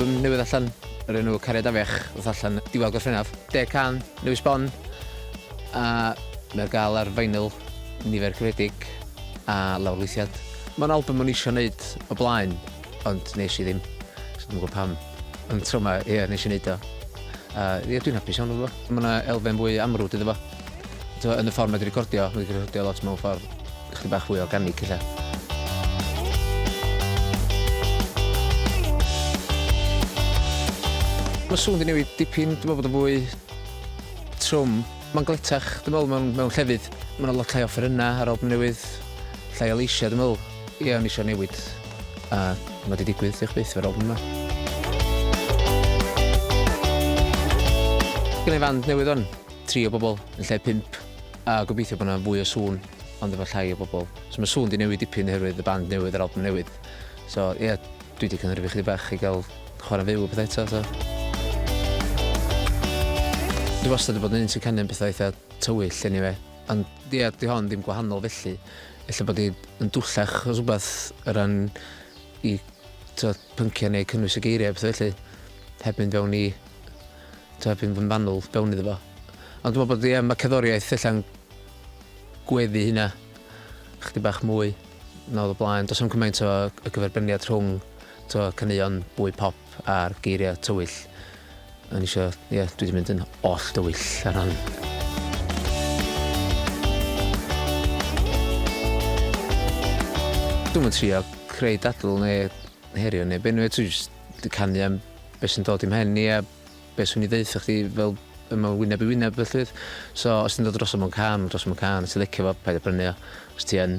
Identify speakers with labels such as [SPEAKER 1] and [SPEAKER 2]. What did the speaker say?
[SPEAKER 1] album newydd allan, yr enw Cariad Afech, wrth allan diwal Gorffennaf. Deg can, newydd sbon, a mae'r gael ar feinyl nifer cyfredig a lawr lawrlwythiad. Mae'n album o'n eisiau gwneud o blaen, ond nes i ddim. So dwi'n gwybod pam. Ond tro ma, ie, nes i neud o. A ie, dwi'n hapus iawn efo fo. Mae yna elfen fwy amrwd iddo fo. T'mo, yn y ffordd mae 'di recordio, mae 'di recordio lot mewn ffordd chydig bach fwy organig ella. Mae sŵn 'di newid dipyn, dwi'n meddwl bod o'n fwy trwm. Mae'n gletach, dwi'n meddwl, mewn llefydd. Mae 'na lot llai o offerynnau ar albwm newydd, llai o leisiau, dwi'n meddwl. Ie o'n i isio newid a ma' 'di digwydd, diolch byth efo'r albwm 'ma. Gynna i fand newydd wan, tri o bobl yn lle pump a gobeithio bo' 'na fwy o sŵn ond efo llai o bobl. So ma' sŵn 'di newid dipyn oherwydd y band newydd a'r albwm newydd. So ie, dwi 'di cynhyrfu chydig bach i ga'l chwara'n fyw a petha eto so. Dwi wastad 'di bod yn un sy'n canu am petha eitha tywyll eniwe. Ond ie, 'di hon ddim gwahanol felly. Ella bod hi yn dwllach achos rhywbeth o ran i t'wod pynciau neu cynnwys y geiriau a petha felly. Heb mynd fewn i t'wo' heb fynd yn fanwl fewn iddo fo. Ond dwi me'wl bod ie ma' cerddoriaeth ella'n gweddu hynna chydig bach mwy na odd o blaen. Do's na'm cymaint o y gyferbyniad rhwng t'wo' caneuon bwy pop A'r geiriau tywyll. O'n i isio, ie, dwi wedi mynd yn oll dywyll ar hon. Dwi'm yn trio creu dadl neu herio neu be' neu dwi jyst di canu am beth sy'n dod i'm mhen i a beth swn i ddeutha chdi fel yma wyneb i wyneb felly. So os ti'n dod dros o mewn can, dros mewn can, os ti'n licio fo, paid â brynu o. Os ti yn,